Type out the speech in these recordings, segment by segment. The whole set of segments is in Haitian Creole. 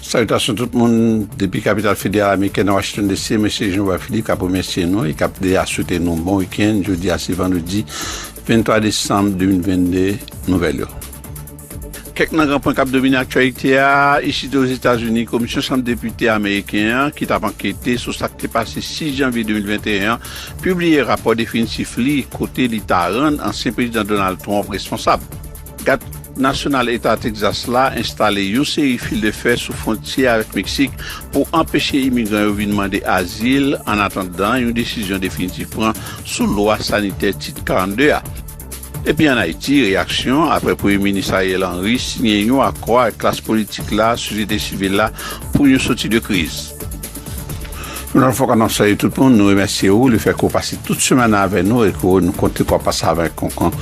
Salitasyon tout moun depi kapital federal amerikèn Washington DC mesye Jean Robert Philippe kap remèsye nou e kap deja swete nou bon weekend jodi a se vandredi 23 desanm 2022 nouvèl yo. Kèk nan gran pwen kap domine aktyalite a isit Ozetazini komisyon chanm depite ameriken an ki tap ankete sou sak te pase 6 janvye 2021 an pibliye rapò definitif li kote li ta rann ansyen prezidan Donald Trump responsab. Gad Nasyonal Eta Texas la enstale yon seri fil de fè sou fwontyè avèk Meksik pou anpeche imigran yo vin mande azil annatandan yon desizyon definitif pran sou lwa sanitè Tit 42 a. Epi an Ayiti, reyaksyon apre Premye Minis Ariel Henry siyen yon akò ak klas politik la, sosyete sivil la pou yon soti de kriz. Nan fòk anan soye tout moun, nou remèsye ou, li fè kou pase tout semen nan avè nou, e kou nou konte kou pase avè konkou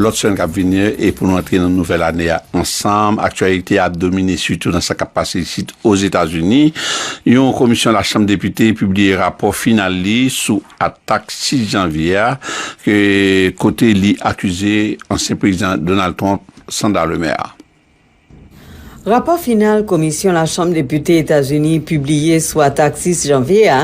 lòt semen kap vini, e pou nou antre nan nouvèl ane a ansanm, aktyalite ap domine sitou nan sa kap pase isit o Zetazini, yon komisyon la chanm depite pibliye rapò final li sou atak 6 janvye a, ke kote li akize ansyen prezidan Donald Trump Sandra Lemaire. Rapò final Komisyon Lachanm Depite Etazini pibliye sou atak 6 janvye a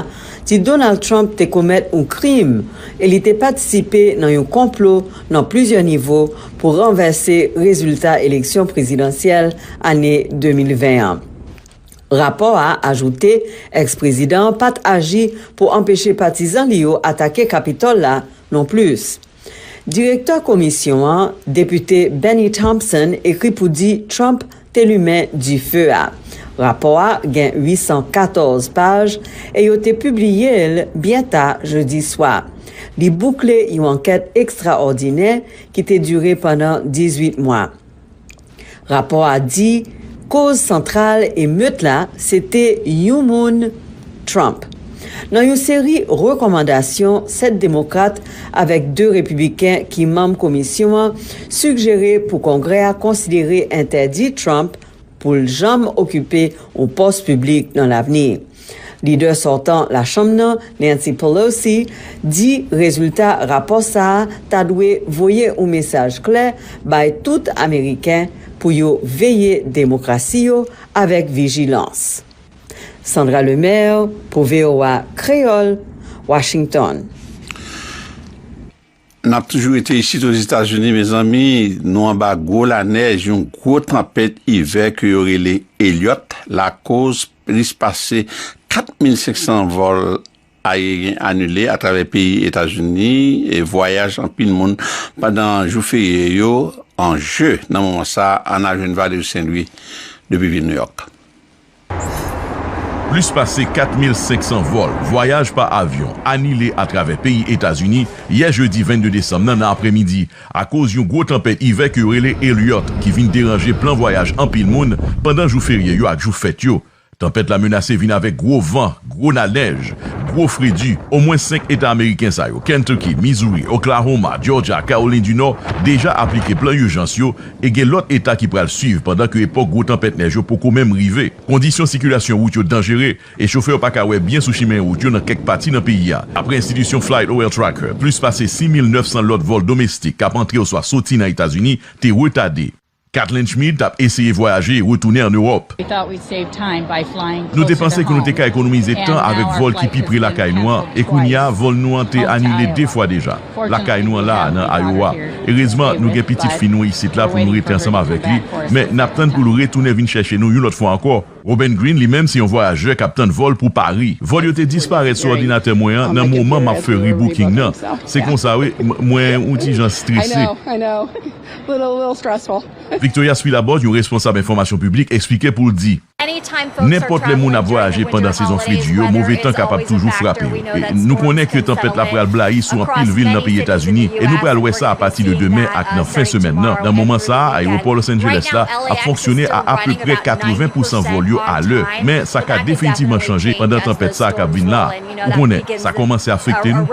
di Donald Trump te komèt yon krim e li te patisipe nan yon konplo nan plizyè nivo pou ranvèse rezilta eleksyon prezidansyèl ane 2020 an. Rapò a ajoute ex-prezidan an pat aji pou anpeche patizan li yo atake Kapitòl la non plis. Direktè komisyon an, Depite Bennie Thompson ekri pou di Trump te limen dife a. Rapò a gen 814 paj e yo te pibliye l byen ta jedi swa. Li boukle yon ankèt ekstraòdinè ki te dire pandan 18 mwa. Rapò a di koz santral emet la se te yon moun Trump. Nan yon seri rekòmandasyon 7 Demokrat avèk 2 Repibliken ki manm komisyon an sigjere pou Kongrè a konsidere entèdi Trump pou l janm okipe yon pòs piblik nan lavni. Lidè sòtan La Chanm nan, Nancy Pelosi, di rezilta rapò sa a ta dwe voye yon mesaj klè bay tout ameriken pou yo veye demokrasi yo avèk vijilans. Sandra Lemaire pou voa Kreyòl, Washington. Nap toujou rete isit Ozetazini mezanmi, nou anba gwo lanèj yon gwo tanpèt ivè ke yo rele Elliott lakoz plis pase 4,500 vòl ayeryen anile atravè peyi Etazini e vwayaj anpil moun pandan jou ferye yo anje nan moman sa a Anna Joinville Saint Louis depi vil New York. Plis pase 4,500 vòl vwayaj pa avyon anile atravè peyi Etazini yè jedi 22 desanm nan nan apremidi akoz yon gwo tanpèt ivè ke yo rele Elliott ki vin deranje plan vwayaj anpil moun pandan jou ferye yo ak jou fèt yo. Tanpèt la menase vin avèk gwo van, gwo nanèj, gwo fredi. Omwen 5 eta ameriken sa yo, Kentucky, Missouri, Oklahoma, Georgia ak Kawolin di Nò, deja aplike plan ijans yo e gen lòt eta ki pral swiv pandan ke epòk gwo tanpèt nèj yo poko menm rive. Kondisyon sikilasyon wout yo danjere e chofè yo pa ka wè byen sou chimen wout yo nan kèk pati nan peyi a. Apre enstitisyon FlightOilTracker, plis pase 6,900 lòt vòl domestik k ap antre oswa soti nan Etazini te retade. Katelyn Schmid t ap eseye vwayaje e retounen an Ewòp. Nou te panse ke nou te ka ekonomize tan avèk vòl ki pi pre lakay nou an, e kounye a vòl nou an te anile 2 fwa deja. lakay nou an la a nan Iowa. Erezman, nou gen pitit fi nou isit la pou nou rete ansanm avèk li, men n ap tann pou l retounen vin chèche nou yon lòt fwa ankò. Robin Green, li menm, se yon vwayajè k ap tann vòl pou Pari. Vòl yo te disparèt sou òdinatè mwen an nan moman m ap fè rebooking nan. Se konsa, wi, m, mwen yon ti jan strese. Victoria Spilabòs, yon responsab enfòmasyon piblik, esplike pou l di. Nenpòt lè moun ap vwayaje pandan sezon fredi yo, move tan kapab toujou frape yo. Nou konnen ke tanpèt la pral blayi sou anpil vil nan peyi Etazini, e nou pral wè sa apati de demen ak nan fen semèn nan. Nan moman sa a, ayewopò Los Angeles la ap fonksyone a apeprè 80 pousan vòl yo alè, men sa ka definitivman chanje pandan tanpèt sa a kap vin la a. Ou konnen, sa kòmanse afekte nou.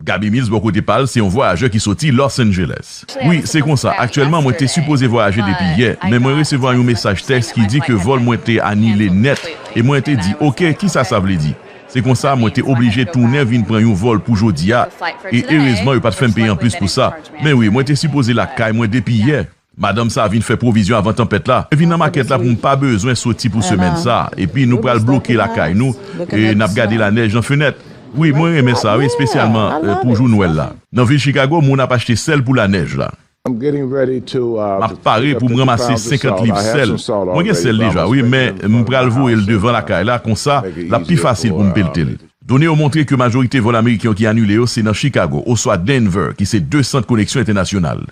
Gaby Mills bò kote pa l se yon vwayajè ki soti Los Angeles. Wi, se konsa. Aktyèlman, mwen te sipoze vwayaje depi yè, men mwen resevwa yon mesaj tèks ki di ke vòl mwen te anile nèt, e mwen te di, Ok, kisa sa vle di? Se konsa, mwen te oblije tounen vin pran yon vòl pou jodi a, e erezman yo pa t fè m peye anplis pou sa. Men wi, mwen te sipoze lakay mwen depi yè. Madanm sa a vin fè pwovizyon avan tanpèt la. Mwen vin nan makèt la pou m pa bezwen soti pou semèn sa a. Epi nou pral bloke lakay nou, e n ap gade lanèj nan fenèt. Wi, mwen renmen sa wi, espesyalman pou jou Nwèl la. Nan vil Chicago, moun ap achte sèl pou lanèj la. M ap pare pou m ranmase 50 liv sèl. Mwen gen sèl deja wi, men m pral voye l devan lakay la, konsa, l ap pi fasil pou m pelte l. Done yo montre ke majorite vòl ameriken yo ki anile yo se nan Chicago oswa Denver, ki se de sant koneksyon entènasyonal.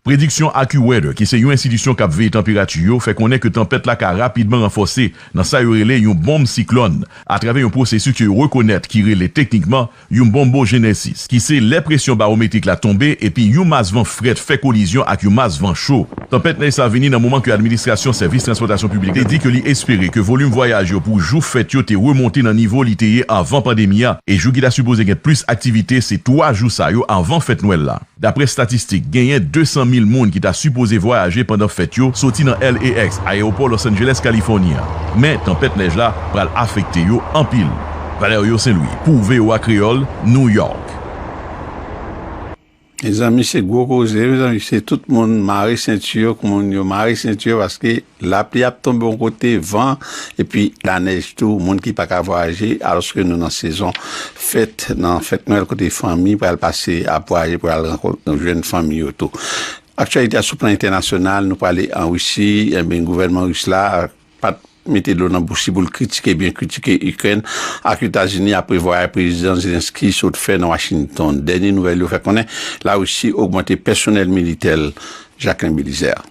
Prediksyon AccuWeather, ki se yon enstitisyon k ap veye tanperati yo, fè konnen ke tanpèt la ka rapidman ranfòse nan sa yo rele yon bonm siklòn atravè yon pwosesis ke yo rekonèt ki rele teknikman yon bonbojenesis, ki se lè presyon bawometrik la tonbe epi yon mas van frèt fè kolizyon ak yon mas van cho. Tanpèt nèj sa vini nan moman ke Administrasyon Sèvis Transpòtasyon Piblik la te di ke li espere ke volim vwayaj yo pou jou fèt yo te remonte nan nivo li te ye anvan pandemi a e jou ki ta sipoze gen plis aktivite se 3 jou sa yo anvan fèt Nwèl la. Daprè statistik, genyen 200 mil moun ki ta sipoze vwayaje pandan fèt yo soti nan LAX, Ayewopò Los Angeles, Kalifòni an. Men, tanpèt nèj la pral afekte yo anpil. Valerio Saint-Louis pou voa Kreyòl, New York. Mezanmi se gwo koze mezanmi se tout moun mare senti yo k moun yo mare senti yo paske Lapli ap tonbe yon kote, van, epi lanèj tou, moun ki pa ka vwayaje, alòske nou nan sezon fèt, nan fèt nwèl kote fanmi pral pase ap vwayaje pou al rankont jwenn fanmi yo tou. Aktyalite a sou plan entènasyonal, nou prale an Risi, enben gouvènman ris la pat mete dlo nan bouch li pou l kritike byen kritike Ikrèn ak Etazini apre vwayay Prezidan Zelensky sot fè nan Washington. Dènye nouvèl yo fè konnen Larisi ogmante pèsonèl militè l Jacquelin Belizaire.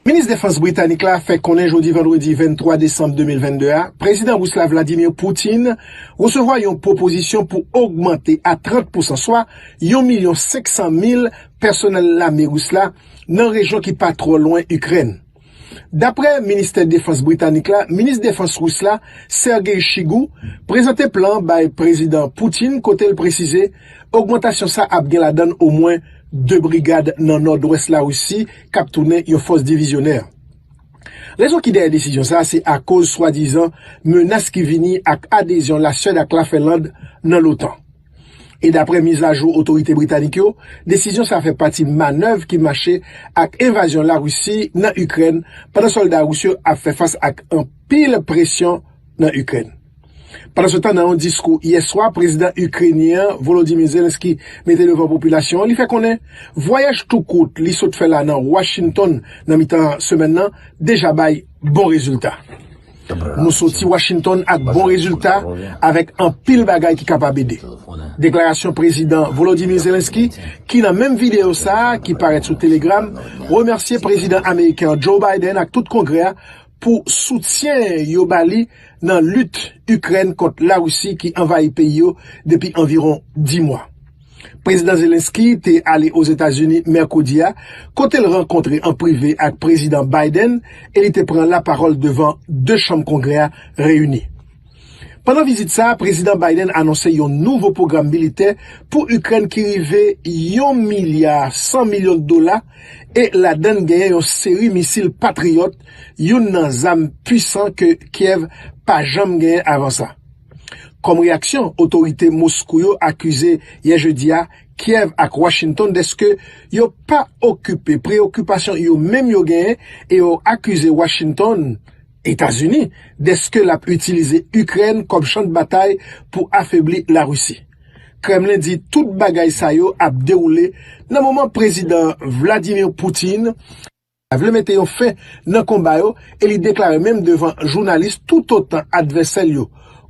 Minis Defans Britanik la fè konnen jodi vandredi 23 desanm 2022 a, Prezidan Ris la Vladimir Putin resevwa yon pwopozisyon pou ogmante a 30 pousan, swa yon milyon 500 mil pèsonèl lame Ris la nan rejyon ki pa twò lwen Ikrèn. Daprè Ministè Defans Britanik la, Minis Defans Ris la, Sergei Shoigu, prezante plan an bay Prezidan Putin kote l presize ogmantasyon sa ap gen ladann omwen 2 brigad nan nòdwès Larisi, k ap tounen yon fòs divizyonè. Rezon ki dèyè desizyon sa a se akoz swadizan menas ki vini ak adezyon Laswèd ak Lafinland nan l'OTAN. E dapre mizajou otorite britanik yo, desizyon sa a fè pati manèv ki mache ak envazyon Larisi nan Ikrèn pandan sòlda ris yo ap fè fas ak anpil presyon nan Ikrèn. Pandansetan, nan yon diskou yè swa, prezidan Ikrenyen an, Volodymyr Zelensky, mete devan popilasyon an, li fè konnen vwayaj tou kout li sot fè la nan Washington nan mitan semèn nan deja bay bon rezilta. Nou soti Washington ak bon rezilta, avèk anpil bagay ki kapab ede. Deklarasyon prezidan Volodymyr Zelensky, ki nan menm videyo sa a, ki parèt sou Telegram, remèsye prezidan ameriken an, Joe Biden ak tout Kongrè a pou soutyen yo ba li nan lit Ikrèn kont Larisi ki anvayi peyi yo depi anviwon 10 mwa. Prezidan Zelenskyy te ale Ozetazini mèkredi a, kote l rankontre an prive ak Prezidan Biden e li te pran lapawòl devan 2 chanm Kongrè a reyini. Pandan vizit sa a, Prezidan Biden anonse yon nouvo pwogram militè pou Ikrèn ki rive yon milya 100 milyon dola e ladann genyen yon seri misil Patriot, youn nan zam pwisan ke Kyèv pa janm genyen avan sa. Kòm reyaksyon, otorite Moskou yo akize yè jedi a Kyèv ak Washington deske yo pa okipe preyokipasyon yo menm yo genyen e yo akize Washington Etazini dèske l ap itilize Ikrèn kòm chan de batay pou afebli Larisi. Kremlen di tout bagay sa yo ap dewoule nan moman Prezidan Vladimir Putin ta vle mete yon fen nan konba yo e li deklare menm devan jounalis toutotan advèsè l yo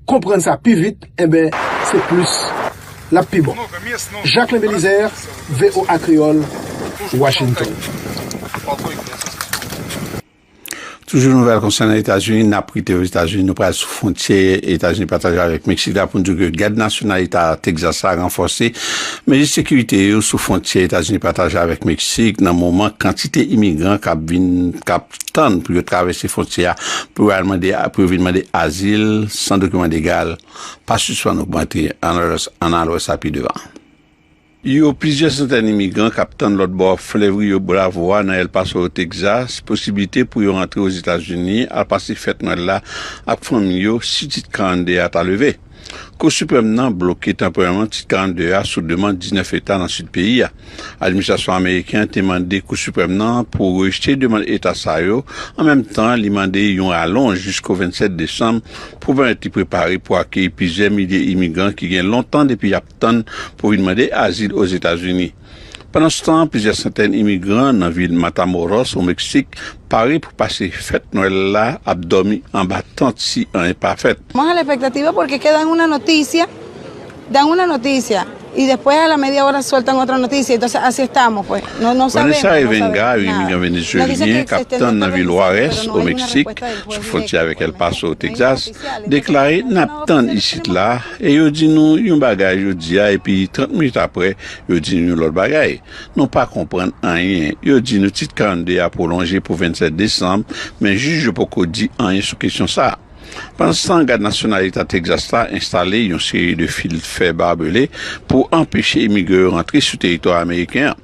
konprann sa pi vit enben se plis l ap pi bon. Jacquelin Belizaire, voa Kreyòl, Washington. Toujou nouvèl konsènan Etazini, nap rete o Etazini, nou pral sou fwontyè Etazini pataje avèk Meksik la pou n di w ke Gad Nasyonal Eta Texas la ranfòse mezi sekirite yo sou fwontyè Etazini pataje avèk Meksik nan moman kantite imigran kap vin kap tann pou yo travèse fwontyè a pou yo al mande pou yo vin mande azil san dokiman legal pa sispann ogmante, ann al wè sa pi devan. Yo plizyè santèn imigran k ap tann lòt bò Flèv Rio Bravo a nan El Paso, Texas, posiblite pou yo antre Ozetazini al pase fèt Nwèl la ak fanmi yo si Tit 42 a ta leve. Kou Siprèm nan bloke tanporèman Tit 42 a sou demand 19 eta nan sid peyi a. Administrasyon ameriken an te mande Kou Siprèm nan pou rejte demand eta sa yo, an menm tan li mande yon ralonj jisko 27 desanm pou pèmèt li prepare pou akeyi plizyè milye imigran ki gen lontan depi y ap tann pou vin mande azil Ozetazini. Pandanstan, plizyè santèn imigran nan vil Matamoros, o Meksik, pare pou pase fèt Nwèl la ap dòmi anba tant si anyen pa fèt. Vanessa Evenga, yon imigran venezuelyen k ap tann nan vil Juarez, o Meksik, sou fwontyè avèk El Paso, Texas, deklare, N ap tann isit la. E yo di nou yon bagay jodi a epi 30 minit aprè yo di nou yon lòt bagay. Nou pa konprann anyen. Yo di nou Tit 42 a pwolonje pou 27 desanm, men jij yo poko di anyen sou kesyon sa. Pandanstan, Gad Nasyonal Eta Texas la enstale yon seri de fil fè barbele pou anpeche imigran yo rantre sou teritwa ameriken an.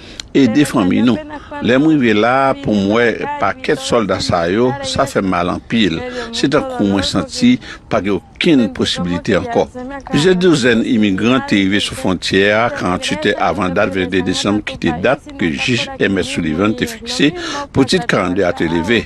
Ede fanmiy nou. Lèm rive la poum wè pakèt sòlda sa yo sa fèm mal anpil se tankou mwen santi pa gen okenn posibilite ankò. Plizyè douzèn imigran te rive sou fwontyè a 48 è avan dat 22 desanm ki te dat ke jij Emmet Sullivan te fikse pou tit 42 a te leve.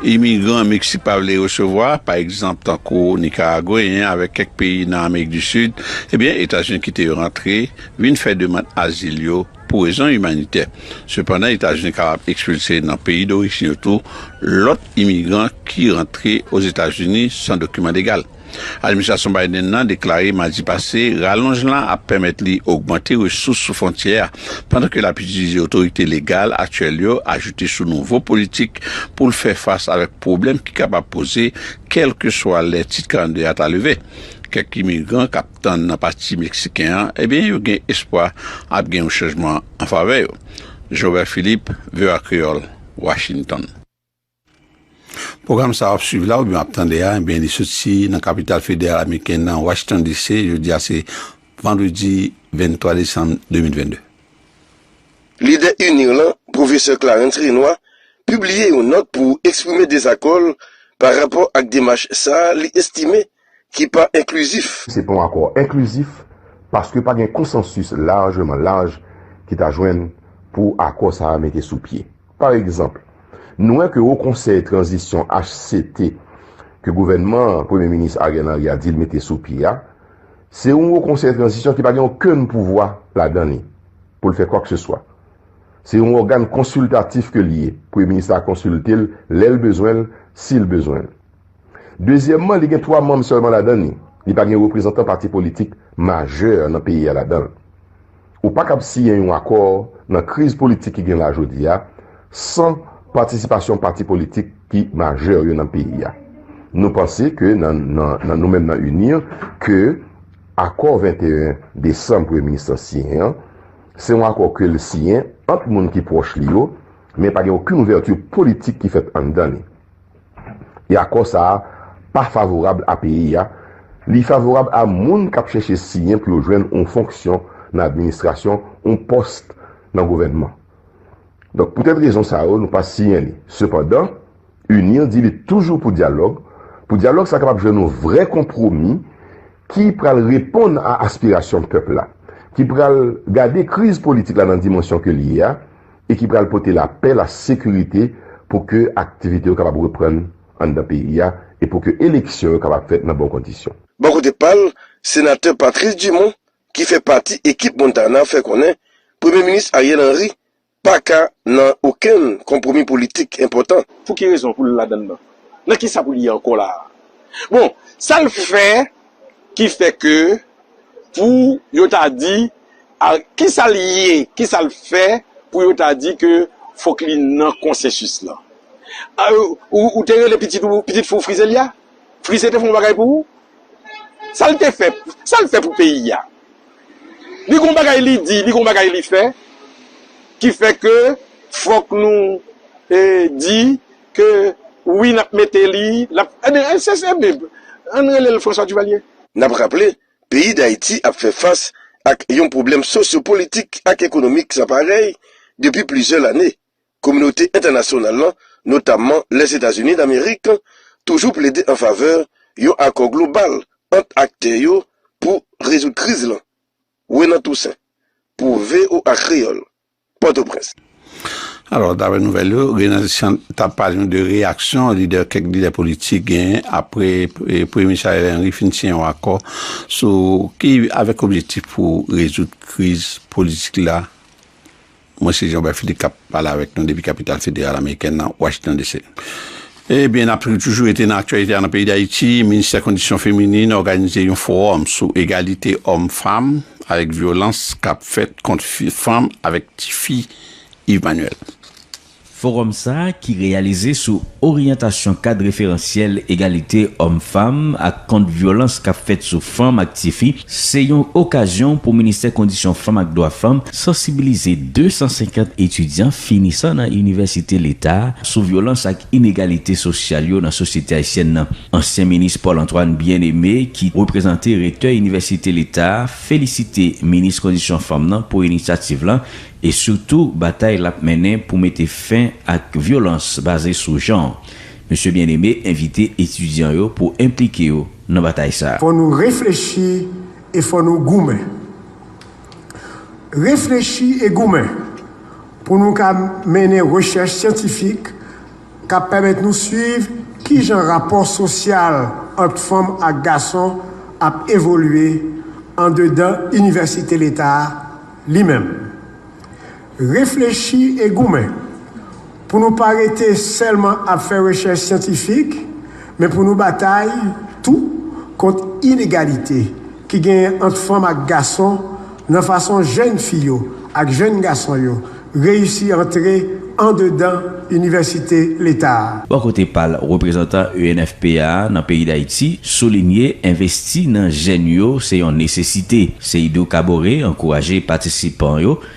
Imigran Meksik pa vle resevwa, pa egzanp tankou Nikaragweyen avèk kèk peyi nan Amerik di Sid, ebyen Etazini kite yo rantre vin fè demand azil yo pou rezon imanitè. Sepandan, Etazini kapab ekspilse nan peyi dorijin yo tou lòt imigran ki rantre Ozetazini san dokiman legal. Administrasyon Biden nan deklare madi pase ralonj la ap pèmèt li ogmante resous sou fwontyè a pandan ke lap itilize otorite legal aktyèl yo ajoute sou nouvo politik pou l fè fas avèk pwoblèm ki kapab poze kèlkeswa lè Tit 42 a ta leve. Kèk imigran kap tann nan pati meksiken an ebyen yo gen espwa ap gen yon chanjman an favè yo. Jean Robert Philippe, voa Kreyòl, Washington. Pwogram sa w ap swiv la oubyen w ap tande a, ebyen li soti nan kapital federal ameriken nan Washington DC, jodi a se vandredi 23 desanm 2022. Lidè UNIR lan, Pwofesè Clarens Renois, pibliye yon nòt pou eksprime dezakò l pa rapò ak demach sa li estime ki pa enklizif. Se pa yon akò enklizif paske pa gen konsansis lajman laj ki ta jwenn pou akò sa a mete sou pye. Pa egzanp, nou wè ke Wo Konsèy Tranzisyon, HCT, ke gouvènman Premye Minis Ariel Henry a di l mete sou pye a, se yon Wo Konsèy Tranzisyon ki pa gen okenn pouvwa ladan li pou l fè kwakseswa. Se yon ògàn konsiltatif ke l ye, Premye Minis la konsilte l lè l bezwen l, si l bezwen l. Dezyèmman, li gen 3 manm sèlman ladan li. Li pa gen reprezantan pati politik majè nan peyi a ladan l. Ou pa kab siyen yon akò nan kriz politik ki gen la jodi a san patisipasyon pati politik ki majè yo nan peyi a. Nou panse ke nan nan nou menm nan UNIR ke akò 21 desanm Premye Minis lan siyen an se yon akò ke l siyen ant moun ki pwòch li yo men pa gen okenn ouvèti politik ki fèt anndan li. E akò sa a pa favorab a peyi a, li favorab a moun k ap chèche siyen pou yo jwenn yon fonksyon nan administrasyon, yon pòs nan gouvènman. Donk poutèt rezon sa yo nou pa siyen li. Sepandan, UNIR di li toujou pou dyalòg, pou dyalòg sa kapab jwenn yon vrè konpwomi ki pral reponn a aspirasyon pèp la, ki pral gade kriz politik la nan dimansyon ke li ye a, e ki pral pote lapè, lasekirite pou ke aktivite yo kapab reprann anndan peyi a e pou ke eleksyon yo kapab fèt nan bon kondisyon. Bò kote pa l, Senatè Patrice Dumont ki fè pati ekip Montana fè konnen Premye Minis Ariel Henry pa ka nan okenn konpwomi politik enpòtan. Pou ki rezon pou l ladann nan? Nan kisa pou l ye ankò la a? Bon, sa l fè? ki fè ke pou yo ta di a ki sa li ye, ki sa l fè pou yo ta di ke fòk li nan konsensis lan. Ou te rele pitit ou, pitit fi w Frizelia? Frize te fè yon bagay pou ou? Sa l te fè, sa l fè pou peyi a? Li gen yon bagay li di, li gen yon bagay li fè ki fè ke fòk nou di. Ke wi nap mete li lap ebyen se se bib ann rele l François Duvalier. N ap raple, peyi Dayiti ap fè fas ak yon pwoblèm sosyopolitik ak ekonomik san parèy depi plizyè lane. Kominote entènasyonal lan, notamman Lèzetazini Damerik, toujou plede an favè yon akò global ant aktè yo pou rezoud kriz lan. Renan Toussaint, pou voa Kreyòl. Pòtoprens. Alò, dapre nouvèl yo, Renald Chant t ap pale nou de reyaksyon lidè kèk lidè politik genyen apre Premye Minis Ariel Henry fin siyen yon akò sou ki avèk objektif pou rezoud kriz politik la. Mwen se Jean Robert Philippe k ap pale avèk nou depi kapital federal amerikèn nan, Washington DC. Ebyen n ap toujou rete nan aktyalite a nan peyi Dayiti, Ministè Kondisyon Feminin òganize yon fowòm sou egalite òm fanm avèk vyolans k ap fèt kont fanm avèk tifi, Yves Manuel. Fowòm sa ki reyalize sou oryantasyon kad referansyèl egalite òm fanm ak kont vyolans k ap fèt sou fanm ak tifi Se yon okazyon pou Ministè Kondisyon Fanm ak Dwa Fanm sansibilize 250 etidyan finisan nan inivèsite leta sou vyolans ak inegalite sosyal yo nan sosyete ayisyèn nan. Ansyen minis Paul Antoine Bien-Aimé ki reprezante rektè inivèsite leta felisite minis kondisyon fanm nan pou inisyativ lan e sitou batay l ap mennen pou mete fen ak vyolans baze sou jan. Mesye Bien-Aimé envite etidyan yo pou enplike yo. nan batay sa. Fò nou reflechi e fò nou goumen. Reflechi e goumen pou nou ka mennen rechèch syantifik k ap pèmèt nou suiv ki jan rapò sosyal ant fanm ak gason ap evolye andedan Inivèsite Leta a li menm. Reflechi e goumen pou nou pa rete sèlman ap fè rechèch syantifik, men pou nou batay tou kont inegalite ki genyen ant fanm ak gason nan fason jèn fi yo ak jèn gason yo reyisi antre andedan inivèsite leta a. Bò kote pa l, reprezantan ENFPA a nan peyi Dayiti soulinye envesti nan jèn yo se yon nesesite. Seydou Kaboré ankouraje patisipan yo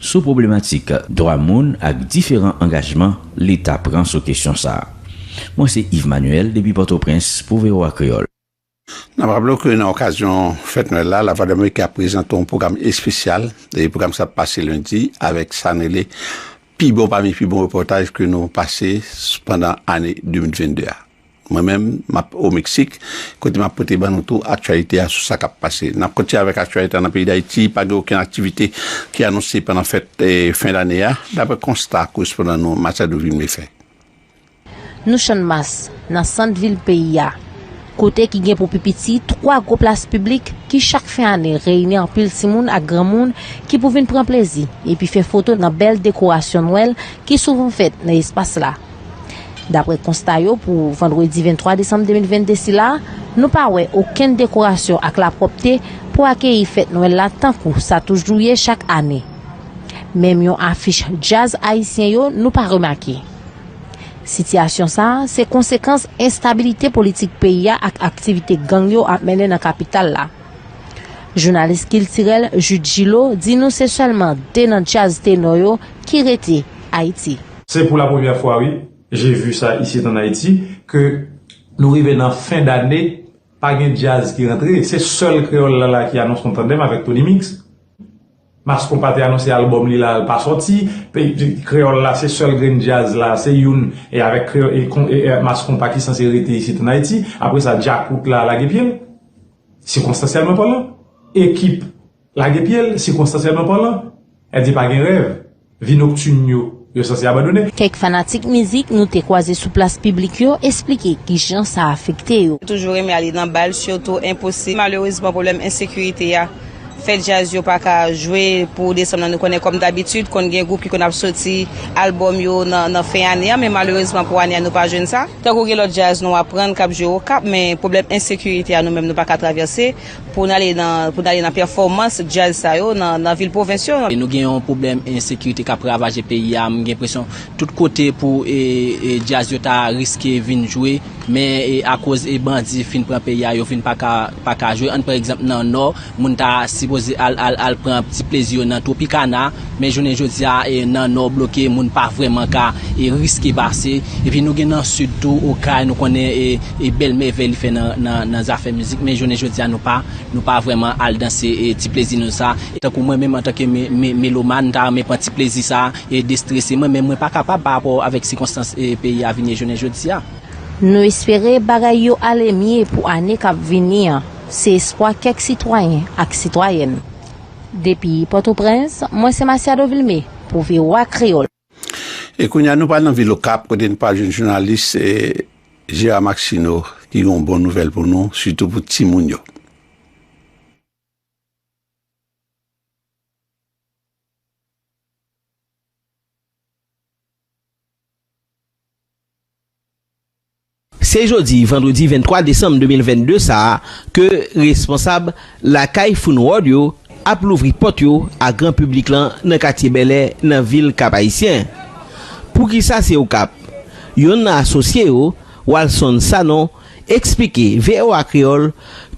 sou pwoblematik dwa moun ak diferan angajman Leta pran sou kesyon sa a. Mwen se Yves Manuel depi Pòtoprens pou voa Kreyòl. N ap raple w ke nan okazyon fèt Nwèl la, Lavwadlamerike ap prezante yon pwogram espesyal. E pwogram sa ap pase lendi avèk sa n rele pi bon pami pi bon repòtaj ke nou pase pandan ane 2022 a. Mwen menm, m ap o Meksik, kote m ap pote ban nou tou aktyalite a sou sa k ap pase. N ap kontinye avèk aktyalite a nan peyi Dayiti, pa gen okenn aktivite ki anonse pandan fèt fen dane a, daprè konsta korespondan nou Machado Vilme fè. Nou Channmas, nan sant vil peyi a, kote ki gen pou pi piti 3 gwo plas piblik ki chak fen ane reyini anpil timoun ak granmoun ki pou vin pran plezi epi fè foto nan bèl dekorasyon Nwèl ki souvan fèt nan espas la. Daprè konsta yo pou vandredi 23 desanm 2022 sila, nou pa wè okenn dekorasyon ak lapwòpte pou akeyi fèt nwèl la tankou sa toujou ye chak ane. Menm yon afich djaz ayisyen yo nou pa remake. Sitiyasyon sa se konsekans enstabilite politik peyi a ak aktivite gang yo ap mennen nan kapital la. Jounalis kiltirèl Jude Gillot di nou se sèlman 2 nan djaz tenò yo ki rete Ayiti. Se pou la premyè fwa wi, je vu sa isit an Ayiti, ke nou rive nan fen dane, pa gen djaz ki rantre, se sèl Kreyòl la la ki anons nou tandem avèk Tony Mix. Mass Konpa te anonse albòm li la, l pa sòti, Kreyòl la se sèl grenn djaz la, se youn e avèk Mass Konpa ki sanse rete isit an Ayiti, apre sa Djakout la lage pye l, sikonstansyèlman palan, ekip Lage pye l, sikonstansyèlman palan, èl di pa gen rèv, vi noktin yo, yo sanse abandone. Kèk fanatik mizik nou te kwaze sou plas piblik yo esplike kijan sa afekte yo. Toujou renmen ale nan bal sitou enposib malerezman pwoblèm ensekirite a fè djaz yo pa ka jwe pou desanm nan nou konnen kòm dabitid konn gen gwoup ki konn ap soti albòm yo nan fen ane a men malerezman pou ane a nou pa jwenn sa. Tankou gen lòt djaz nou aprann k ap jwe okap men pwoblèm ensekirite a nou menm nou pa ka travèse. Pou n ale nan pou n ale nan pèfòmans djaz sa yo nan vil pwovens yo. Nou gen yon pwoblèm ensekirite k ap ravaje peyi a, m gen enpresyon tout kote pou djaz yo ta riske vin jwe men akoz bandi fin pran peyi a yo vin pa ka pa ka jwe, ann pran egzanp nan nò moun ta sipoze al al al pran ti plezi yo nan Tropicana. Men jounen jodi a nan Nò bloke moun pa vrèman ka riske pase epi nou gen nan Sid tou Okay nou konnen e bèl mèvèy li fè nan zafè mizik men jounen jodi a nou pa nou pa vrèman al danse ti plezi nou sa tankou mwen menm antanke melomàn m ta renmen pran ti plezi sa e destrese mwen men mwen pa kapab pa rapò avèk sikonstans peyi a vin ye jounen jodi a. Nou espere bagay yo ale mye pou ane k ap vini an se espwa kèk sitwayen ak sitwayèn. Depi Pòtoprens, mwen se Masiado Vilmé pou voa Kreyòl. E kounye a nou pral nan vil Okap kote nou pral jwenn jounalis Gérard Maxineau ki gen yon bon nouvèl pou nou sitou pou timoun yo. Se jodi vandredi 23 desanm 2022 sa a ke responsab lakay Foun World yo ap louvri pòt yo a gran piblik lan nan katye Bèlè nan vil Kap Ayisyen. Poukisa se Okap? Yonn nan asosye yo, Walson Sanon, eksplike voa Kreyòl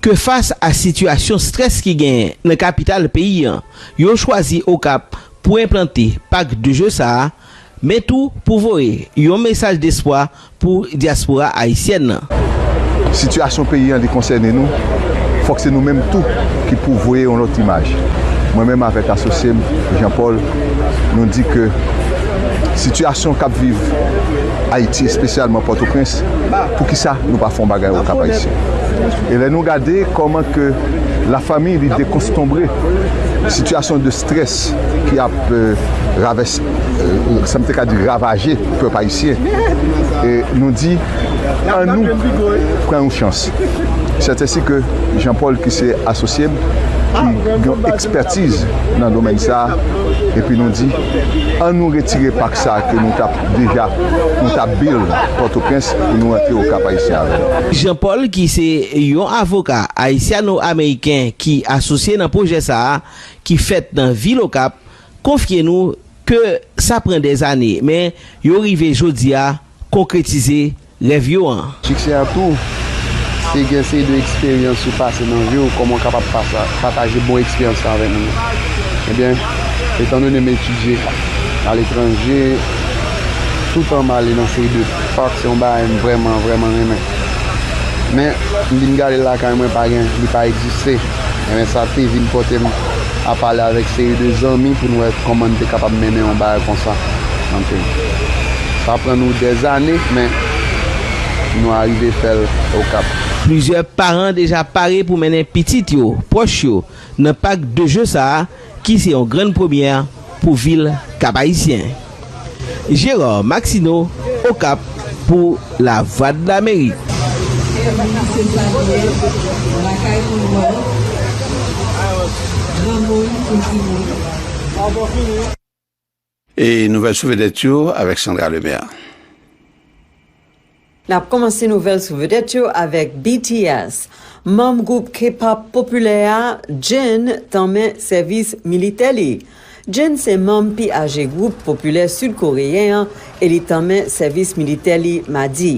ke fas a sitiyasyon strès ki genyen nan kapital peyi an, yo chwazi Okap pou enplante pak de je sa a, men tou pou voye yon mesaj despwa pou dyaspora ayisyèn nan. Sitiyasyon peyi an li konsène nou, fòk se nou menm tou ki pou voye yon lòt imaj. Mwen menm avèk asosye m, Jean Paul, nou di ke sitiyasyon k ap viv Ayiti, espesyalman Pòtoprens, pou ki sa nou pa fè yon bagay au Cap-Haïtien? E lè nou gade kòman ke la famille li dekonstonbre, sitiyasyon de. Strès ki ap ravès, sa m te ka di ravaje pèp ayisyen, nou di an nou pran yon chans. Sètensi ke Jean Paul ki se asosye m, ki gen yon ekspètiz nan domèn sa a, epi nou di an nou retire pak sa a ke nou t ap deja, nou t ap build Pòtoprens pou nou rantre au Cap Haïtien avè l. Jean Paul ki se yon avoka ayisyano-ameriken ki asosye nan pwojè sa a, ki fèt nan vil Okap konfye nou ke sa pran dè zane men yo rive jodi a konkretize rèv yo an. Siksè a tou, se gen seri de eksperyans ou pase nan vi w, kòman w kapab pataje bon eksperyans sa avèk nou? Ebyen, etan done m etidye aletranje, toutan m ale nan seri de pak, se yon bagay m vrèman, vrèman renmen. Men, m vin gade l lakay mwen pa gen, li pa egziste. Ebyen sa te vin pote m a pale avèk seri de zanmi pou n wè kòman n te kapab mennen yon bagay konsa kanpe. Sa pran nou dèzane men nou arive fè l Okap. Plizyè paran deja pare pou mennen pitit yo, pwòch yo nan pak de je sa a ki se yon grann premyè pou vil Kap-Ayisyen. Gérard Maxineau, Okap, pou Lavwadlamerik. Èvni se sa li ye, lakay moun love, granmoun pou timoun. E nouvèl sou vedèt yo avèk Sandra Lemaire. Nap kòmanse nouvèl sou vedèt yo avèk BTS. Manm gwoup K-pop popilè a, Jin tanmen sèvis militè li. Jin se manm pi aje gwoup popilè Sid Koreyen an e li tanmen sèvis militè li Madi.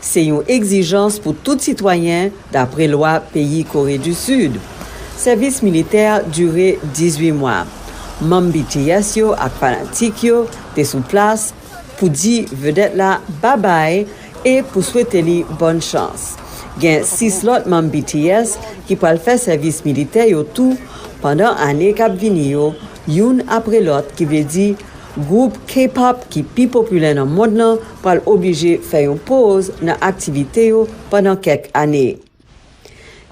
Se yon egzijans pou tout sitwayen, dapre lwa peyi Kore di Sid. Sèvis militè dire 18 mwa. Manm BTS yo ak fanatik yo te sou plas pou di vedèt la babay e pou swete li bòn chans. Gen 6 lòt manm BTS ki pral fè sèvis militè yo tou pandan ane k ap vini yo, youn apre lòt, ki vle di, Gwoup K-pop ki pi popilè nan mond lan pral oblije fè yon poz nan aktivite yo pandan kèk ane.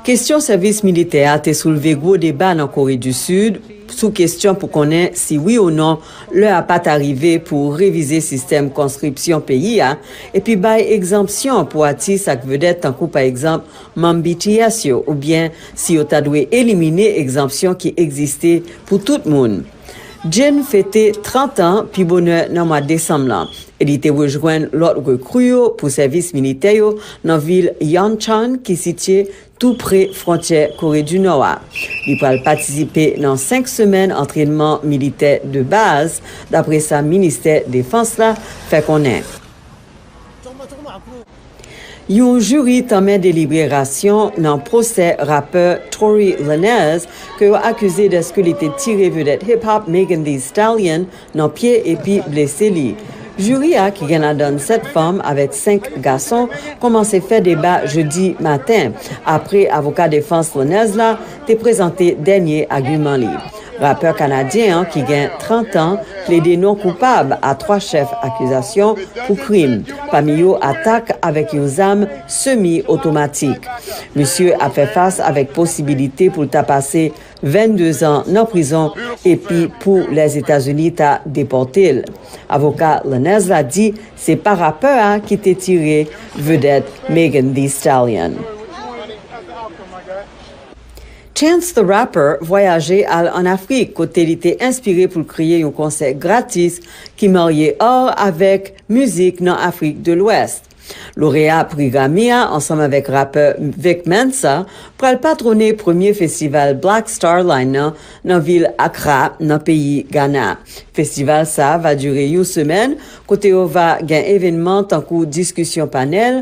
Kestyon sèvis militè a te soulve gwo deba nan Kore di Sid sou kestyon pou konnen si wi ou non lè a pa ta rive pou revize sistèm konskripsyon peyi a epi bay egzanpsyon pou atis ak vedèt tankou pa egzanp manm BTS yo oubyen si yo ta dwe elimine egzanpsyon ki egziste pou tout moun. Jane fete 30 an pi bonè nan mwa desanm lan e li te rejwenn lòt rekri yo pou sèvis militè yo nan vil Yanchon ki sitye tou pre fwontyè Kore di Nò a. Li pral patisipe nan 5 semèn antrenman militè de baz, dapre sa ministè defans la fè konnen. Yon jiri tanmen delibere rasyon nan pwosè rapè Tory Lanez ke yo akize deske li te tire vedèt hip hop Megan Thee Stallion nan pye epi blese li. Jiri a ki gen ladann 7 fanm avèk 5 gason kòmanse fè deba jedi maten apre avoka defans Lanez la te prezante dènye agiman li. Rapè kanadyen an ki gen 30 an plede non koupab a 3 chèf akizasyon pou krim, pami yo atak avèk yon zam semi otomatik. Misye ap fè fas avèk posibilite pou l ta pase 22 zan nan prizon epi pou Lèzetazini ta depòte l. Avoka Lanez la di se pa rapè a ki te tire vedèt Megan Thee Stallion. Chance the Rapper vwayaje al an Afrik kote li te enspire pou l kreye yon konsè gratis ki marye ar avèk mizik nan Afrik de Lwès. Loreya pri Grammy a ansanm avèk rapè Vic Mensa pral patwone premye festival Black Star Line nan nan vil Accra nan peyi Ghana. Festival sa va dire yon semèn kote yo va gen evènman tankou diskisyon panèl,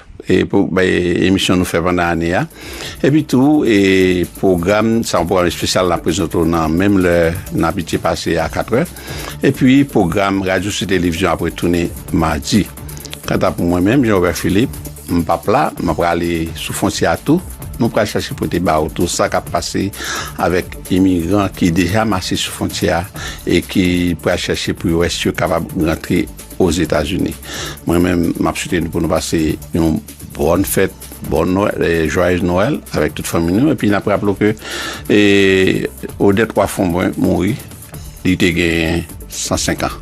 e pou emisyon nou fè pandan ane a epi tou e pwogram sa yon pwogram espesyal nan prezante w nan menm lè n abitye pase a 4 è epi pwogram radyo sou televizyon ap retounen madi kanta pou mwen menm Jean-Robert Philippe m pap la m ap prale sou fontyè a tou mwen pral chache pote ba ou tou sa k ap pase avèk imigran ki deja mache sou fontyè a e ki pral chache pou yo wè si yo kapab rantre Ozetazini. Mwen menm m ap swete nou pou nou pase yon bòn fèt, bòn nwèl, jwayèz nwèl avèk tout fanmi nou epi n ap raple w ke Odette Roy Fombrun mouri li te gen 105 an.